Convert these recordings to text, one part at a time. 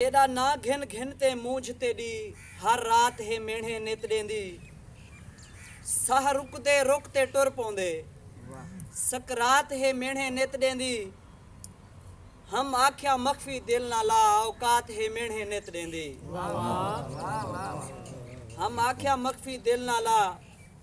تیݙا ناں گھن گھن تے مونجھ تیݙی ہر رات ہے مینھیں نت ݙیندی ساہ رکدے رک تے ٹر پوندے سکرات ہے مینھیں نت ݙیندی ہم آکھیا مخفی دل نہ لا اوقات ہے مینھیں نت ݙیندی ہم آکھیا مخفی دل نہ لا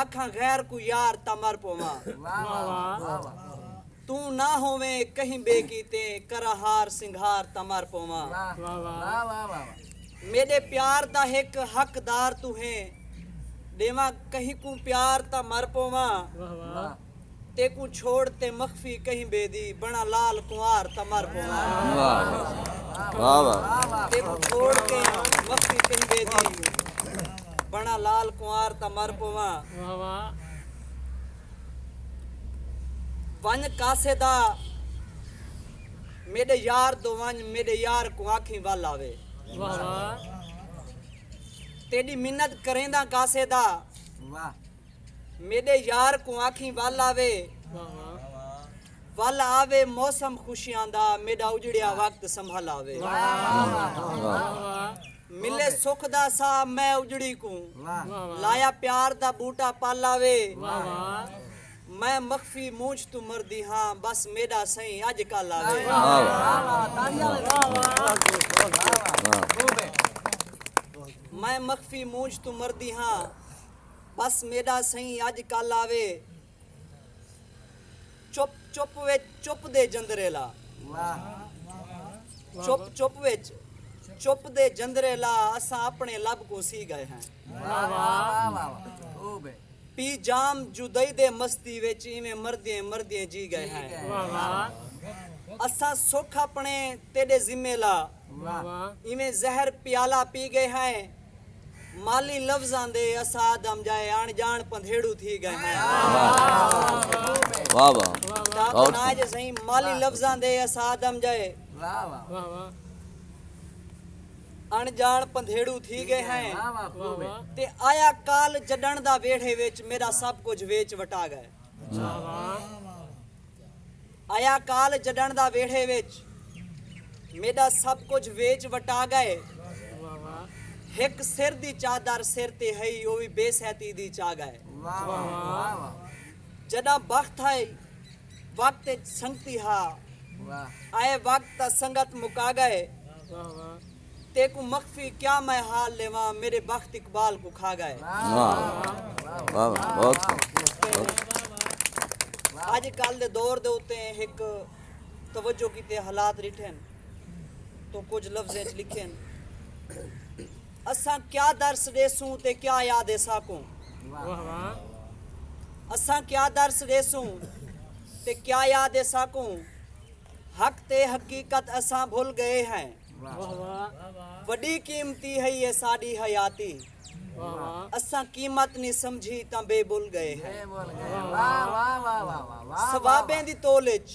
آکھاں غیر کوں یار تاں مر پوواں توں نہ ہوویں کہیں ٻئے کیتے کراں ہار سنگھار تاں مر پوواں میݙے پیار دا ہک حقدار توں ہیں ݙیواں کہیں کوں پیار تاں مر پوواں تیکوں چھوڑ تے مخفی کہیں بے دی بنڑاں لال کنوار تاں مر پوواں ونج کاسے دا میڈے یار دو ونج میڈے یار کوں آکھیں ول آوے تیڈی منت کرینداں کاسے دا میڈے یار کوں آکھیں ول آوے ول آوے موسم خوشیاں دا میڈا اجڑیا وقت سنبھل آوے ملے سکھ دا سا میں اجڑی کوں لایا پیار دا بوٹا پل آوے میں مخفی مونچھ توں مردی ہاں بس میڈا سئیں اج کل آوے میں مخفی مونچھ توں مردی ہاں بس میݙا سئیں اڄ کل آوے چپ چپ وچ چپ دے جندرے لا چپ چپ وچ چپ دے جندرے لا اساں اپݨے لب کوں سی ڳئے ہیں پی جام جدئی دے مستی وچ ایویں مردیں مردیں جی ڳئے ہیں اساں سکھ اپݨے تیݙے ذمے لا ایویں زہر پیالہ پی گئے ہائیں مالی لفظاں دے اساد ام جائے اݨ ڄاݨ پندھیڑو تھی گئے ہائیں مالی لفظاں دے اساد ام جائے اݨ جاݨ پندھیڑو تھی گئے ہیں تے آیا کال جڈن دا ویڑھے وچ میرا سب کچھ ویچ وٹا گئے آیا کال جڈݨ دا ویڑھے وچ میݙا سب کجھ ویچ وٹا ڳئے ہک سر دی چادر سر تے ہئی او وی بے سہتی دی چا ڳئے جݙاں بخت ہئی وقت اچ سنگتی ہا آئے وقت تاں سنگت مکا ڳئے تیکوں مخفی کیا میں حال لیواں میݙے بخت اقبال کوں کھا ڳئے۔ اڄ کل دے دور دے اتے ہک توجہ کیتے حالات ݙٹھن توں کجھ لفظیں اچ لکھن اساں کیا درس ݙیسوں تے کیا یاد ہے ساکوں اساں کیا درس ݙیسوں تے کیا یاد ہے ساکوں حق تے حقیقت اساں بھل ڳئے ہیں۔ وݙی قیمتی ہئی اے ساݙی حیاتی اساں قیمت نی سمجھی تاں بے بل ڳئے ہیں ثوابیں دی تول اچ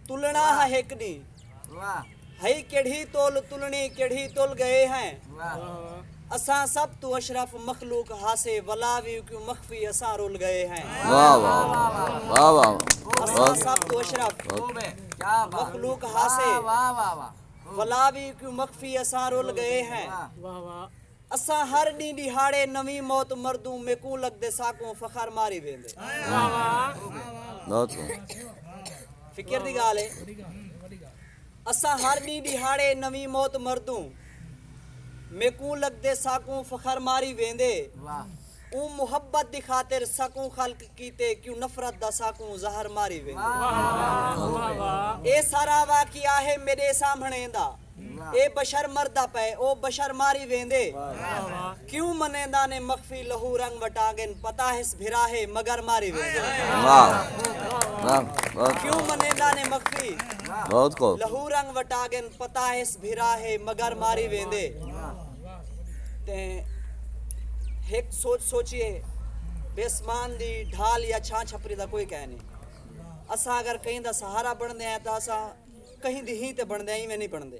تلݨا ہا ہک ݙینہہ ہئی کیڑھی تول تلݨی کیڑھی تل ڳئے ہیں اساں سب توں اشرف مخلوق ہاسے ولا وی کیوں مخفی اساں رل گئے ہیں واہ واہ واہ اساں سب توں اشرف مخلوق ہاسے ولا وی کیوں مخفی اساں رل گئے ہیں واہ واہ اساں ہر ڈی ڈیہاڑے نویں موت مردوں میکوں لگدے ساکوں فخر ماری ویندے فکر دی گال ہے اساں ہر ݙینہہ ݙیہاڑے نویں موت مردوں میکوں لڳدے ساکوں فخر ماری ویندے اوں محبت دی خاطر ساکوں خلق کیتے کیوں نفرت دا ساکوں زہر ماری ویندے اے سارا واقعہ ہے میݙے سامھݨے دا اے بشر مردا پئے او بشر ماری ویندے کیوں منینداں نے مخفی لہو رنگ وٹانگن پتہ ہس بھرا ہے مگر ماری ویندن کیوں منینداں نے مخفی لہو رنگ وٹانگن پتہ ہس بھرا ہے مگر ماری ویندے تے ہک سوچ سوچیے بیسمان دی ڈھال یا چھاں چھپری دا کوئی کہہ نہیں اساں اگر کہیں دا سہارا بن دے ہیں تو اساں کہیں دی ہی تے بن دے ہیں ایویں نہیں بن دے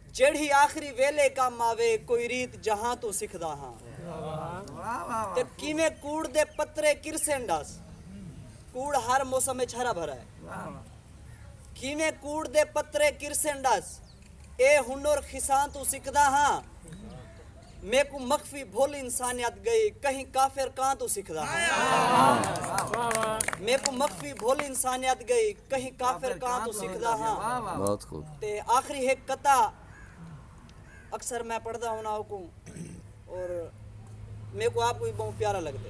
جیڑھی آخری ویلے کم آوے کوئی ریت جہاں توں سکھدا ہاں تے کیویں کوڑ دے پترے کرسن ڈس کوڑ ہر موسم وچ ہرا بھرا ہے کیویں کوڑ دے پترے کرسن ڈس اے ہنر خساں توں سکھدا ہاں میکوں مخفی بھل انسانیت ڳئی کہیں کافر کاں توں سکھدا ہاں میکوں مخفی بھل انسانیت ڳئی کہیں کافر کاں توں سکھدا ہاں تے آخری ہک قطع اکثر میں پڑھدا ہونا اوکوں اور میکوں آپ کو بھی بہت پیارا لگدے